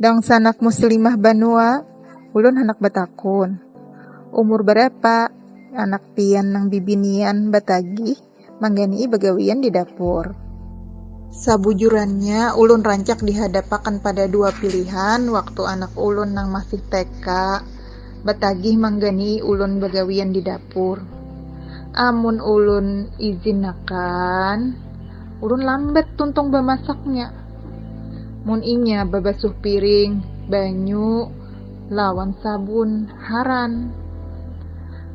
Dangsanak muslimah banua, ulun handak batakun, umur barapa anak pian nang bibinian batagih manggani'i bagawian di dapur? Sabujurannya ulun rancak dihadapakan pada dua pilihan waktu anak ulun nang masih TK. batagih mangganei ulun bagawian di dapur. Amun ulun izinakan, ulun lambat tuntung bamasaknya. Mun inya babasuh piring, banyu, lawan sabun, haran.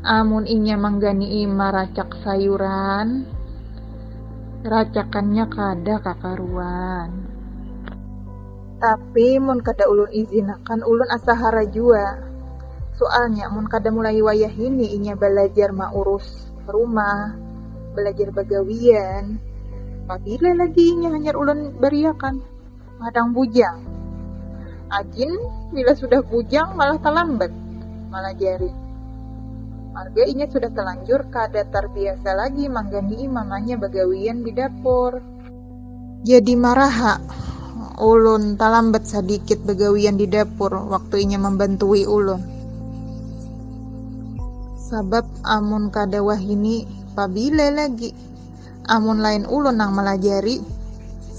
Amun inya mangganei maracak sayuran, racakannya kada kakaruan. Tapi mun kada ulun izinakan ulun asa hara jua. Sualnya mun kada mulai wayahini inya balajar maurus rumah, balajar bagawian, pabila lagi inya hanyar ulun bariakan, Madang bujang! Ajin bila sudah bujang malah talambat malajari. Marga inya sudah talanjur kada tarbiasa lagi mangganii mamanya bagawian di dapur. Jadi marah ha. Ulun talambat sadikit bagawian di dapur waktu inya mambantui ulun. Sabab amun kada wahini pabila lagi. Amun lain ulun nang malajari,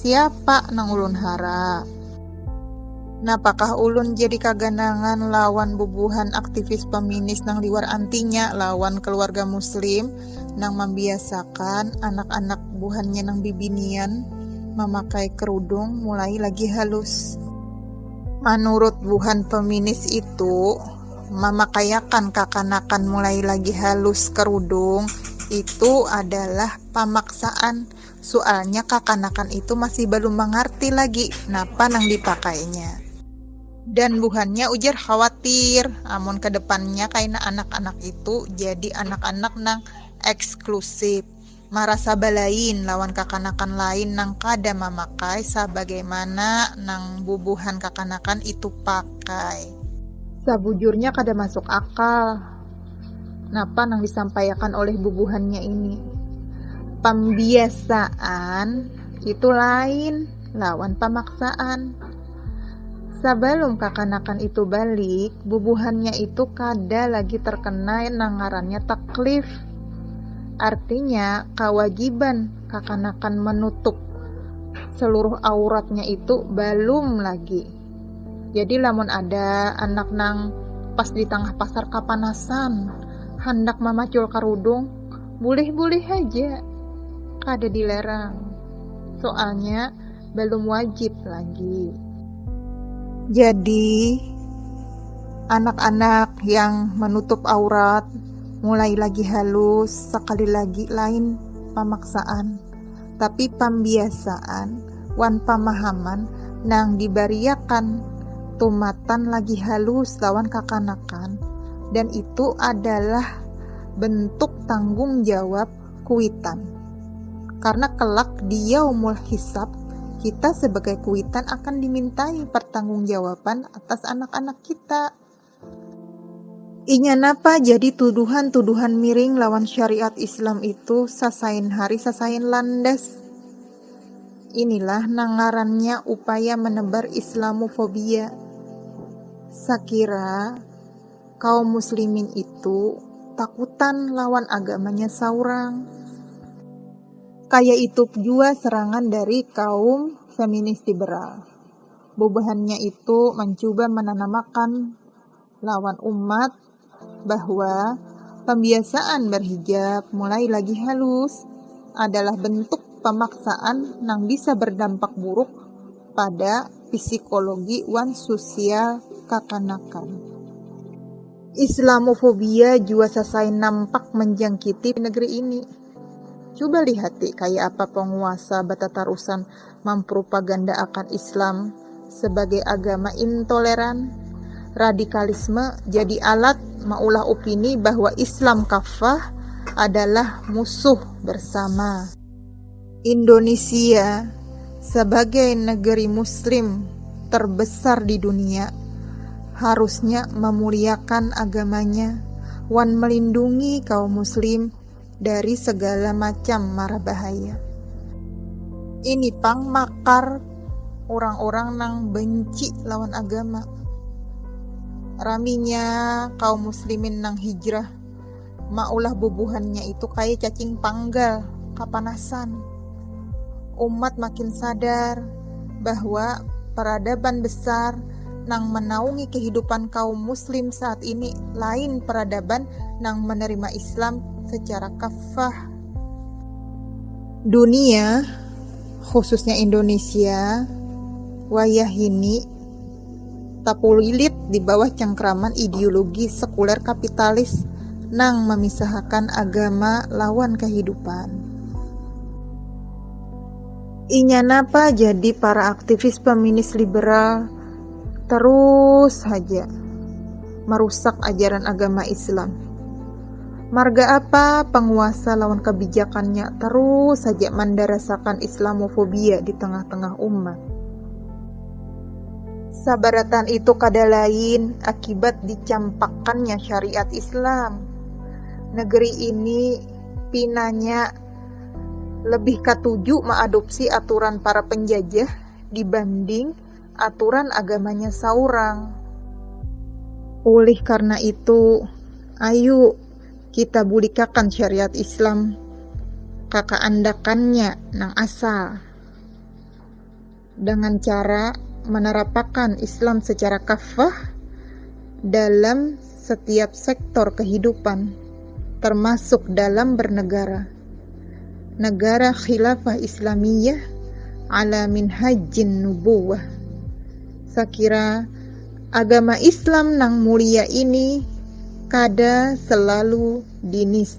siapa nang ulun hara. Napakah ulun jadi kaganangan lawan bubuhan aktivis peminis nang liwar antinya lawan kaluarga muslim. nang mambiasakan anak-anak buhannya nang bibinian mamakai kerudung mulai lagi halus. Manurut buhan feminis itu, mamakaiakan kakanakan mulai lagi halus kerudung itu adalah pamaksaan, sualnya kakanakan itu masih balum mangarti lagi napa nang dipakainya. dan buhannya ujar khawatir amun kedepannya kaina anak-anak itu jadi anak-anak nang eksklusif marasa balain lawan kakanakan lain nang kada mamakai sabagaimana nang bubuhan kakanakan itu pakai. Sabujurnya kada masuk akal napa nang disampaiakan oleh bubuhannya ini. Pambiasaan itu lain lawan pamaksaan. Sabalum kakanakan itu balik, bubuhannya itu kada lagi terkena nang ngarannya taklif. Artinya, kawajiban kakanakan manutup saluruh auratnya itu balum lagi. Jadi lamun ada anak nang pas di tangah pasar kapanasan handak mamacul karudung, bulih-bulih haja, kada dilarang. Soalnya, belum wajib lagi. Jadi anak-anak yang menutup aurat mulai lagi halus sekali lagi lain pamaksaan tapi pambiasaan wan pamahaman nang dibariakan tumatan lagi halus lawan kakanakan dan itu adalah bentuk tanggung jawab kuitan. Karena kelak di yaumul hisab, kita sebagai kuitan akan dimintai pertanggungjawaban atas anak-anak kita. Inya napa jadi tuduhan-tuduhan miring lawan syariat Islam itu sasain hari sasain landas. Inilah nang ngarannya upaya menebar Islamofobia. Sakira kaum muslimin itu takutan lawan agamanya saurang. Kaya itu jua serangan dari kaum feminis liberal. Bubuhannya itu mancuba mananamakan lawan umat bahwa pambiasaan berhijab mulai lagi halus adalah bentuk pamaksaan nang bisa berdampak buruk pada pisikologi wan susial kakanakan. Islamofobia jua sasai nampak manjangkiti negeri ini. Cuba lihati kaya apa panguasa batatarusan mampropagandaakan Islam sabagai agama intoleran. Radikalisme jadi alat maulah opini bahwa Islam kaffah adalah musuh bersama. Indunisia sabagai negeri muslim terbesar di dunia harusnya memuliakan agamanya wan melindungi kaum muslim dari segala macam mara bahaya. Ini pang makar urang-urang nang benci lawan agama. Raminya kaum muslimin nang hijrah. maulah bubuhannya itu kaya cacing panggal, kapanasan. Umat makin sadar bahwa peradaban besar nang menaungi kehidupan kaum muslim saat ini lain peradaban nang menerima Islam secara kafah. Dunia, khususnya Indonesia, wayahini takulilit di bawah cangkraman ideologi sekuler kapitalis nang mamisahakan agama lawan kahidupan. Inya napa jadi para aktivis feminis liberal tarus haja marusak ajaran agama Islam. Marga apa panguasa lawan kabijakannya tarus haja mandarasakan Islamofobia di tengah-tengah umat. Sabaratan itu kada lain akibat dicampakkannya syariat Islam. Negeri ini pinanya lebih katuju maadopsi aturan para penjajah dibanding aturan agamanya saurang. Ulih karna itu, ayu kita bulikakan syariat Islam ka kaandakannya nang asal. Dengan cara menerapakan Islam secara kafah dalam setiap sektor kehidupan, termasuk dalam bernegara. Negara Khilafah Islamiyah ala minhajin nubuwah. Sakira agama Islam nang mulia ini kada selalu dinis